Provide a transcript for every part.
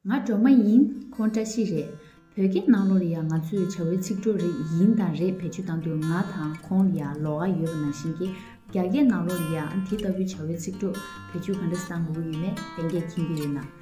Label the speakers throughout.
Speaker 1: ང་གྲོ་མ་ཡིན་ཁོང་བཀྲ་ཤིས་རེད་བོད་སྐད་ནང་ལོར་ཡང་ང་ཚོས་བྱ་བའི་ཚིག་གྲོགས་རེད་ཡིན་དང་རེད་བེད་སྤྱོད་བཏང་དུས་ང་དང་ཁོང་ལ་ཡང་ལོགས་ཀ་ཡོད་པ་ནང་བཞིན་གྱི་རྒྱ་སྐད་ནང་ལོར་ཡང་དེ་ལྟ་བུའི་བྱ་བའི་ཚིག་གྲོགས་བེད་སྤྱོད་ག་འདྲ་བཏང་དགོས་ཀྱི་ཡོད་མེད་གཏན་འཁེལ་མཁྱེན་གྱི་ཡོད་ན།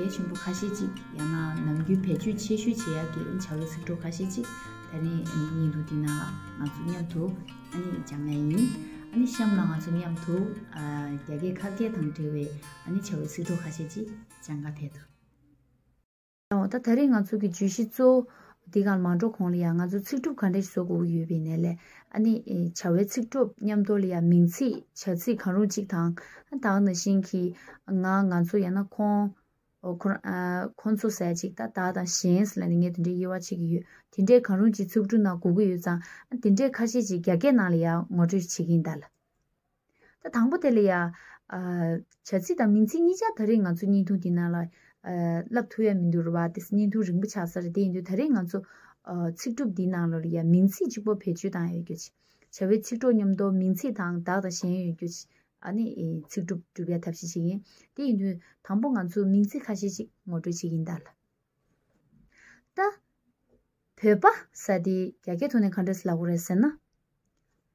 Speaker 1: གལ་ཆེན་པོ་ཁ་ཤས་ཅིག་ཡང་ན་ནམ་རྒྱུན་བེད་སྤྱོད་ཆེ་ཤོས་བྱེད་ཡག་གི་བྱ་བའི་ཚིག་གྲོགས་ཁ་ཤས་ཅིག་ད་ནི་གཉིས་འདུག་དེ་རྣམས་ལ་ང་ཚོ་མཉམ་དུ་སྦྱང་ཡས་ཡིན། གཤམ་ལ་ང་ཚོ་མཉམ་དུ་རྒྱ་སྐད་ཁ་སྐད་དང་འབྲེལ་བའི་བྱ་བའི་ཚིག་གྲོགས་ཁ་ཤས་ཅིག་སྦྱང་ག་དེ་ཐུབ། ད་ད་རེས་ང་ཚོ་གི་བརྗོད་གཞི་གཙོ་བོ། འདི་གར་མ་འགྲོ་གོང་ལ་ཡང་ང་ཚོ་ཚིག་གྲུབ་ག་འདྲ་ཞིག་བཟོ་དགོས་ཀྱི་ཡོད་པའི་གནས་ལས། ཨ་ནི། བྱ་བའི་ཚིག་གྲུབ་མཉམ་དོར་ལ་ཡང་མིང་ཚིག་བྱ་ཚིག་གང་རུང་གཅིག་དང། དག་ན་བཞིན་གྱི། ང་ང་ཚོ་ཡང་ན་ཁོང། ཁོང་ཚོ་ཟེར་ཅིག་ད་ད་དང་གཞན་ཟེར་ལ་ནི་ངས་དེ་འདྲའི་དབྱེ་བ་ཕྱེ་གི་ཡོད། དེ་འདྲའི་གང་རུང་གཅིག་ཚིག་གྲུབ་ནང་གོ་གི་ཡོད་ཙང། དེ་འདྲའི་ཁ་ཤས་ཅིག་རྒྱ་སྐད་ནང་ལ་ཡང་ངོ་སྤྲོད་བྱེད་ཀྱིན་གདའ་ལ། ད་དང་པོ་དེ་ལ་ཡང། བྱ་ཚིག་དང་མིང་ཚིག་གཉིས་ཆར་ད་རེས་ང་ཚོ་བརྙན་ཐུང་དེའི་ནང་ལ། བསླབ་ཐུབ་ཡ་མི་འདུག་རེད་བ་དེ་བརྙན་ཐུང་རིང་པོ་ཆགས་ས་རེད་དེ་ཡིན་དུས་ད་རེས་ང་ཚོ། ཚིག་གྲུབ་འདིའི་ནང་ལ་ཡང་མིང་ཚིག་གཅིག་པོ་བེད་སྤྱོད་བཏང་ཡོད་རྒྱུ། བྱ་བའི་ཚིག་གྲོགས་མཉམ་དུ་མིང་ཚིག་དང་བདག་དང་གཞན་ཡོད་རྒྱུ། ནི། ཚིག་གྲུབ་གྲུབ་ཡ་ཐབས་ཤེས་ཤིག་ཡིན། དེ་ཡིན་དུས་དང་པོ་ང་ཚོས་མིང་ཚིག་ཁ་ཤས་ཅིག་ངོ་སྤྲོད་བྱེད་ཀྱིན་གདའ་ལ། ད། བོད་པ་ས་དེས་རྒྱ་སྐད་ཐོག་ནས་ག་འདྲ་ཟླ་གོ་རེད་ཟེར་ན།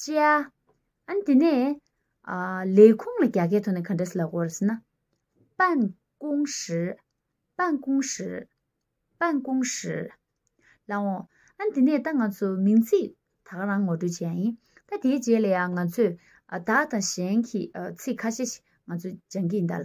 Speaker 1: བཅའ། ཨཱ་དེ་ནས། ལས་ཁུངས་ལ་རྒྱ་སྐད་ཐོག་ནས་ག་འདྲ་སི་ལ་གོ་རེ་ཟེར་ན། པན་ཀུང་ཧྲི། པན་ཀུང་ཧྲི། པན་ཀུང་ཧྲི། ལ་འོང། ཨཱ་དེ་ནས་ད་ང་ཚོ་མིང་ཚིག་ད་ག་རང་ངོ་སྤྲོད་བྱེད་ཡ་ཡིན། ད་དེའི་རྗེས་ལ་ཡང་ང་ཚོས་བདག་དང་གཞན་གྱི་ཚིག་ཁ་ཤས་ཤིག་ང་ཚོས་སྦྱང་གི་ཡིན་ད་ལ།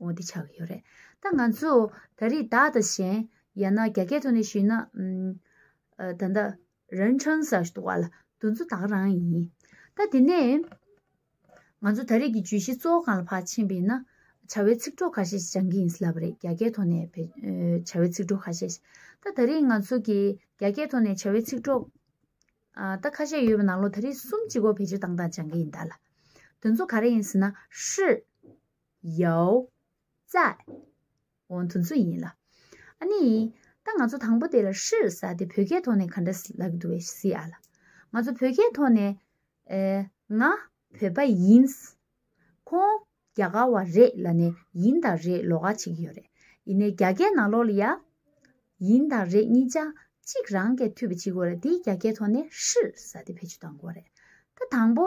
Speaker 1: འོ་དེ་ཆགས་ཀྱི་ཡོད་རེད། ད་ང་ཚོ་ད་རེས་བདག་དང་གཞན། ཡང་ན་རྒྱ་སྐད་ཐོག་ནས་ཞུས་ན། ད་ལྟ། རན་ཁྲང་ས་ཞེས་བ་ལ་འདུ་ཚོ་དག་རང་ཡིན། ད་དེ་ནས། ང་ཚོ་ད་རེས་ཀྱི་བརྗོད་གཞི་གཙོ་བོ་གང་ལ་བག་ཕྱིན་པ་ཡིན་ན། བྱ་བའི་ཚིག་གྲོགས་ཁ་ཤས་ཤིག་སྦྱང་གི་ཡིན་ལབ་པ་རེད་རྒྱ་སྐད་ཐོག་ནས། བྱ་བའི་ཚིག་གྲོགས་ཁ་ཤས་ཤིག། ད་ད་རེས་ང་ཚོ་གི་རྒྱ་སྐད་ཐོག་ནས་བྱ་བའི་ཚིག་གྲོགས། ད་ཁ་ཤས་ཡོད་པ་ནང་ལོ་ད་རེས་གསུམ་གཅིག་གོ་བེད་སྤྱོད་བཏང་སྟངས་སྦྱང་གི་ཡིན་བདག་ལ། འདུ་ཚོ་ག་རེ་ཡིན་ཟེར་ན་ཧྲི། ཡའོ། ཙའེ། འོ་དོན་ཚོ་ཡིན་ལ། ཨ་ནི། ད་ང་ཚོ་དང་པོ་དེ་ལ་ཧྲིར་ཟ་དེ་བོད་སྐད་ཐོག་ནས་ག་འདྲ་ལབ་ཀྱི་འདུག་བས་སི་ཨ་ལ། ང་ཚོ་བོད་སྐད་ཐོག་ནས། ང། བོད་པ་ཡིན། ཁོང། རྒྱ་གར་བ་རེད་ལ་ནས་ཡིན་དང་རེད་ལོག་ཨ་བྱེད་ཀྱི་ཡོད་རེད། ཡིན་ནས་རྒྱ་སྐད་ནང་ལོག་ལ་ཡ། ཡིན་དང་རེད་གཉིས་ཆ་གཅིག་རང་སྐད་འཐུས་པ་བྱེད་དགོས་རེད་དེ་རྒྱ་སྐད་ཐོག་ནས་ཧྲིར་ཟ་དེ་བེད་སྤྱོད་གཏང་དགོས་རེད། ད་དང་པོ།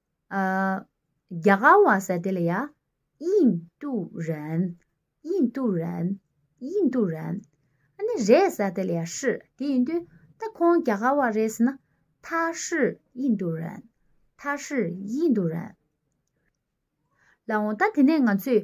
Speaker 1: རྒྱ་གར་བ་ཟེར་དེ་ལ་ཡ། དབྱིན་ཏུ་རན། དབྱིན་ཏུ་རན། དབྱིན་ཏུ་རན། ཨ་ནི་རེད་ཟེར་དེ་ལ་ཡ་ཧྲི། དེ་ཡིན་དུས་ད་ཁོང་རྒྱ་གར་བ་རེད་ཟེར་ན། ཐ་ཧྲི་དབྱིན་ཏུ་རན། ཐ་ཧྲི་དབྱིན་ཏུ་རན། ལ་འོང་ད་དེ་ནས་ང་ཚོས་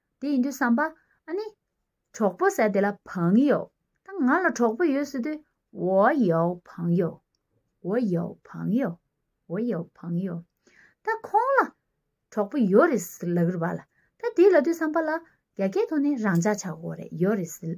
Speaker 1: དེ་ཡིན་དུས་བསམ་པ། ཨ་ནི། གྲོགས་པོ་ཟེར་དེ་ལ་བང་ཡོ། ད་ང་ལ་གྲོགས་པོ་ཡོད་ཟེར་དུས། བོ་ཡོ་བང་ཡོ། བོ་ཡོ་བང་ཡོ། བོ་ཡོ་བང་ཡོ། ད་ཁོང་ལ། གྲོགས་པོ་ཡོད་རེད་ཟེར་ལགས་རེད་བ་ལ། ད་དེ་ལ་དུས་བསམ་པ་ལ། རྒྱ་སྐད་ཐོག་ནས་རང་འཇགས་ཆགས་འོ་རེད་ཡོད་རེད་ཟེར།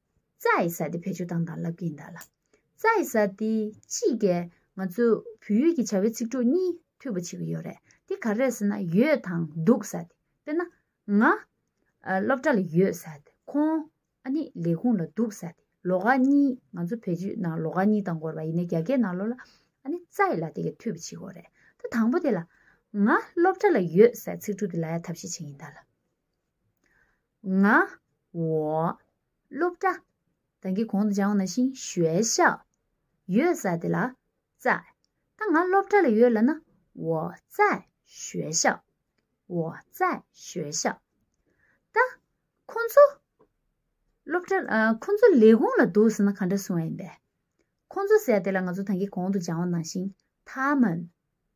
Speaker 1: རྩྭ་ཡི་ས་དེ་བེད་སྤྱོད་བཏང་དང་ལབ་ཀྱིན་གདའ་ལ། རྩྭ་ཡི་ས་དེ་ཅི་གས་ང་ཚོ་བོད་ཡུལ་གྱི་བྱ་བའི་ཚིག་གྲོགས་གཉིས་མཐུད་པ་བྱེད་ཀྱི་ཡོད་རེད་དེ་ག་རེད་ཟེར་ན་ཡོད་དང་འདུག་ས་དེ་དཔེར་ན། ང། སློབ་གྲྭ་ལ་ཡོད་ས་དེ་ཁོང། ཨ་ནི་ལས་ཁུངས་ལ་འདུག་ས་དེ་ལོ་ག་གཉིས་ང་ཚོ་བེད་སྤྱོད་ནང་ལོ་ག་གཉིས་དང་འགོར་བ་ཡིན་ནའི་རྒྱ་སྐད་ནང་ལོ་ལ། ཨ་ནི་རྩྭ་ཡི་ལ་དེ་གས་མཐུད་པ་བྱེད་དགོས་རེད་ད་དང་པོ་དེ་ལ། ང་སློབ་གྲྭ་ལ་ཡོད་སའི་ཚིག་གྲོགས་དེ་ལ་ཡ་ཐབས་ཤེས་བྱེད་ཀྱིན་གདའ་ལ། ང། འོ། སློབ་གྲྭ། དང་གི་གོང་དུ་བྱང་བ་ན་ཤིང་ཞོལ་ཤ། ཡོད་ས་དེ་ལ། རྩ། ད་ང་སློབ་གྲྭ་ལ་ཡོད་ལ་ན། འོ། རྩ། ཞོལ་ཤ། འོ། རྩ། ཞོལ་ཤ། ད། ཁོང་ཚོ། སློབ་གྲྭ། ཁོང་ཚོ་ལས་ཁུངས་ལ་འདུག་ས་ན་ག་འདྲ་སོང་བ་ཡིན་པས། ཁོང་ཚོ་ཟེར་དེ་ལ་ང་ཚོ་དང་གི་གོང་དུ་བྱང་བ་ན་ཤིང། ཐ་མན།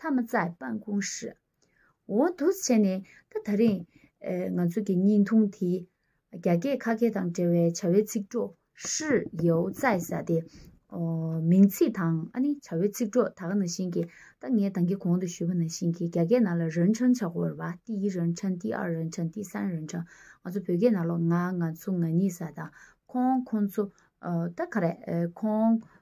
Speaker 1: ཐ་མ་ཙའི་སྤང་ཀུང་ཧྲི། འོ་འདུག་བྱས་ནས་ད་ད་རིང། ང་ཚོ་གི་སྙིང་ཐུང་དེ། རྒྱ་སྐད་ཁ་སྐད་དང་འབྲེལ་བའི་བྱ་བའི་ཚིག་གྲོགས་ཧྲི་ཡའོ་ཙའི་ས་དེ། མིང་ཚིག་དང་ཨ་ནི་བྱ་བའི་ཚིག་གྲོགས་ད་ག་ན་བཞིན་གྱི་ད་ངས་དང་གི་གོང་དུ་ཞུས་པ་ན་བཞིན་གྱི་རྒྱ་སྐད་ནང་ལ་རོན་ཆང་བྱ་གོ་བར་བ་ཏི་ཡི་རོན་ཆང་ཏི་ཨར་རོན་ཆང་ཏི་སན་རོན་ཆང་ང་ཚོ་བོད་སྐད་ནང་ལོ་ང་ང་ཚོ་ང་གཉིས་ས་དང་ཁོང་ཁོང་ཚོ། ད་ག་རེད་ཁོང།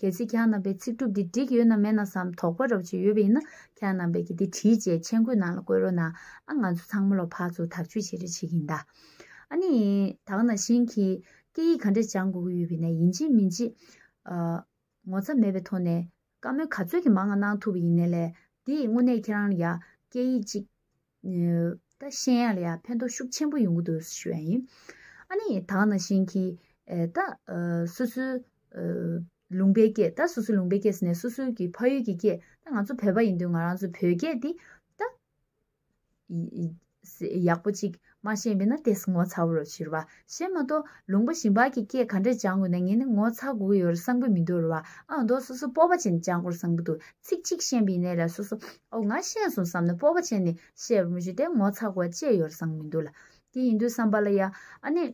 Speaker 1: གལ་སྲིད་གྱང་རྣམ་པའི་ཚིག་གྲུབ་འདི་འགྲིག་ཡོད་ན་མེད་ན་བསམ་དོགས་པ་རོགས་བྱེད་ཡོད་པ་ཡིན་ན་གྱང་རྣམ་པའི་གི་འདི་བྲིས་རྗེས་མཆན་མགོའི་ནང་ལ་བཀོད་རོགས་གནང་ཨ་ང་ཚོ་ཚང་མ་ལོ་ཕག་ཚོ་དག་བཅོས་བྱེད་རེ་བྱེད་གིན་གདའ། ཨ་ནི། དག་ན་ཤིང་གིས་སྐད་ཡིག་ག་འདྲས་སྦྱང་དགོས་ཀྱི་ཡོད་པའི་ནས་ཡིན་ཅི་མིན་ཅི། ངོ་ཚ་མེད་པའི་ཐོག་ནས་བཀའ་མོལ་ག་ཚོད་ཀྱི་མང་ང་གནང་ཐུབ་པ་ཡིན་ནས་ལས་འདི་དངོས་གནས་ཁྱེད་རང་ལ་ཡ་སྐད་ཡིག་ཅིག་ད་ཤེས་ཡ་ལ་ཡང་ཕན་ཐོགས་ཤུགས་ཆེན་པོ་ཡོང་གི་འདུག་ཞུ་ཡ་ཡིན། ཨ་ནི་དག་ན་བཞིན་གྱི། ད། སོ་སོའི། ལུང་པའི་སྐད་ད་སོ་སོའི་ལུང་པའི་སྐད་ཟེར་ནས་སོ་སོའི་གི་ཕ་ཡུལ་གྱི་སྐད་ད་ང་ཚོ་བོད་པ་ཡིན་དུས་ང་རང་ཚོའི་བོད་སྐད་འདི། ད། ཡག་པོ་ཅིག་མ་ཤེས་པས་ན་དེས་ངོ་ཚ་བོ་རུ་བྱུར་བ། གཞན་མ་གཏོགས་ལུང་པ་ཞིང་པར་གྱི་སྐད་ག་འདྲས་སྦྱང་དགོས་ན་ངས་ནི་ངོ་ཚ་དགོས་ཀྱི་ཡོད་རེད་བསམ་གྱི་མི་འདུག་རེད་བ་ཨང་རྡོ་སོ་སོ་སྤོབས་པ་ཅན་ནས་སྦྱང་དགོས་རེད་བསམ་གྱི་འདུག་ཚིག་གཅིག་ཤེས་པའི་གནས་ལ་སོ་སོ་ཨོ་ང་ཤེས་སོང་བསམ་ནས་སྤོབས་པ་ཅན་ནས་བཤད་པར་མི་བྱེད་དེ་ངོ་ཚ་དགོས་བ་ཅི་ཡོད་རེད་བསམ་གྱི་མི་འདུག་ལ། དེ་ཡིན་དུས་བསམ་པ་ལ་ཡ། ཨ་ནི།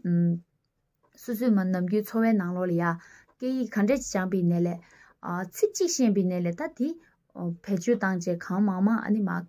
Speaker 1: སོ་སོའི་མ་ནམ་རྒྱུན་འཚོ་བའི་ནང་ལོགས་ལ་ཡ། སྐད་ཡིག་ག་འདྲས་སྦྱངས་པའི་གནས་ལས། ཚིག་གཅིག་ཤེས་པའི་གནས་ལས་ད་དེ། བེད་སྤྱོད་བཏང་རྗེས་གང་མང་མང་ཨ་ནི་མ།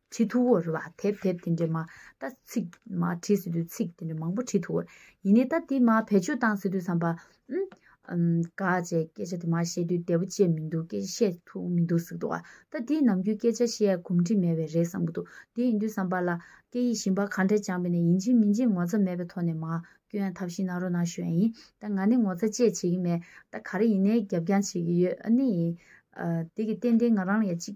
Speaker 1: བྲིས་ཐུ་བོ་རེད་བ་དེབ་དེབ་དེ་འདྲས་མ་ད་ཚིག་མ་བྲིས་སི་དུས་ཚིག་དེ་འདྲས་མང་པོ་བྲིས་ཐུ་བོ་ཡིན་ནས་ད་དེ་མ་བེད་སྤྱོད་བཏང་སི་དུས་བསམ་པ་ཨིན། དགའ་བྱས་སྐད་ཆ་དེ་མ་བཤད་དུས་བདེ་བོ་སྐྱེ་མི་འདུག་སྐད་ཆ་བཤད་ཐུག་མི་འདུག་སིག་འདུག་ད་དེ་ནམ་རྒྱུན་སྐད་ཆ་བཤད་ཡ་གོམས་འདྲིས་མེད་བས་རེད་བསམ་གི་འདུག་དེ་ཡིན་དུས་བསམ་པ་ལ་སྐད་ཡིག་ཞིམ་པ་ག་འདྲས་སྦྱངས་པས་ནས་ཡིན་སྦྱིན་མི་སྦྱིན་ངོ་ཚ་མེད་པའི་ཐོག་ནས་མ་སྐྱོན་ཡ་ཐབས་ཤིག་གནང་རོགས་གནང་ཞུ་ཡ་ཡིན་ད་ང་ནི་ངོ་ཚ་བཅས་བྱེད་གི་མེད་ད་ག་རེ་ཡིན་ནའི་རྒྱབ་རྒྱང་བྱེད་གི་ཡོད་ཨ་ནི་ཡིན། དེ་གི་ཏན་ཏན་ང་རང་ལ་ཡ་གཅིག་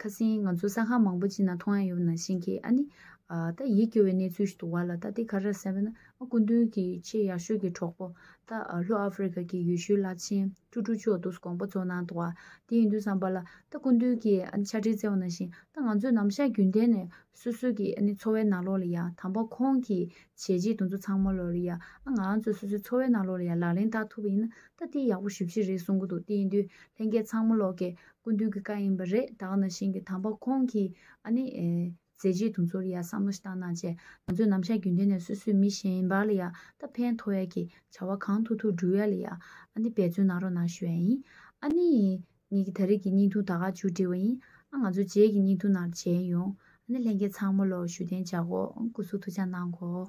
Speaker 1: ཁ་སིང་ང་ཚོ་ས་ཁང་མང་པོ་ཅིག་ན་མཐོང་ཡ་ཡོད་ན་ཤེས་ཁི་ཨ་ནི། ད་ཡིད་སྐྱོ་བའི་གནས་ཚུལ་ཞིག་ཏུ་བ་ལ་ད་དེ་ག་རེད་ཟེར་བ་ན་ཨ་སྐུ་མདུན་གི་ཆེས་ཡག་ཤོས་ཀྱི་གྲོགས་པོ། ད་ལྷོ་ཨ་ཕི་རི་ཀ་གི་ཡུལ་ཤུལ་བླ་ཆེན་ཀྲུ་ཀྲུ་ཅོ་ཏུས་དགོངས་པ་གཙོ་གནང་འདུག་བ་དེ་ཡིན་དུས་བསམ་པ་ལ་ད་སྐུ་མདུན་གྱིས་ཨ་ནི་ཕྱག་བྲིས་བསྩལ་བ་ན་བཞིན་ད་ང་ཚོས་ནམ་ཞག་རྒྱུན་ལྡན་ནས་སོ་སོའི་གི་ཨ་ནི་འཚོ་བའི་ནང་ལོགས་ལ་ཡ་དམ་པ་ཁོང་གིས་བྱས་རྗེས་དུ་ཚོ་ཚང་མ་ལོགས་ལ་ཡ་ཨ་ང་ང་ཚོས་སོ་སོའི་འཚོ་བའི་ནང་ལོགས་ལ་ཡ་ལག་ལེན་བསྟར་ཐུབ་པ་ཡིན་ན་ད་དེ་ཡག་པོ་ཞིབ་ཞིབ་རེད་གསུང་གི་འདུག་དེ་ཡིན་དུས་ལྷན་རྒྱས་ཚང་མ་ལོགས་ཀྱིས་ཀུན་བཏུས་ཀྱི་བཀའ་ཡིན་པ་རེད་དྭགས་ན་བཞིན་གྱི་དམ་པ་ཁོང་གིས་ཨ་ནི། མཛད་རྗེས་དུ་ཚོར་ཡ་བསམ་བློ་ཞིག་བཏང་ན་བཅས་ང་ཚོས་ནམ་ཞག་རྒྱུན་ལྡན་ནས་སོ་སོས་མི་གཞན་བར་ལ་ཡ་ད་ཕན་ཐོགས་ཡ་གི་བྱ་བ་གང་ཐུག་ཐུག་སྒྲུབ་ཡ་ལ་ཡ་ཨ་ནི་འབད་བརྩོན་གནང་རོགས་གནང་ཞུ་ཡ་ཡིན། ཨ་ནི། ངེད་ཀྱི་ད་རེས་ཀྱི་སྙིང་ཐུང་ད་ག་ཅུ་འབྲི་བ་ཡིན་ཨ་ང་ཚོ་རྗེས་ཀྱི་སྙིང་ཐུང་ནང་མཇལ་ཡོང་ཨ་ནི་ལྷན་རྒྱས་ཚང་མ་ལོ་ཞུ་རྟེན་འཇག་གོ་སྐུ་གཟུགས་ཐུགས་བཅག་གནང་གོ།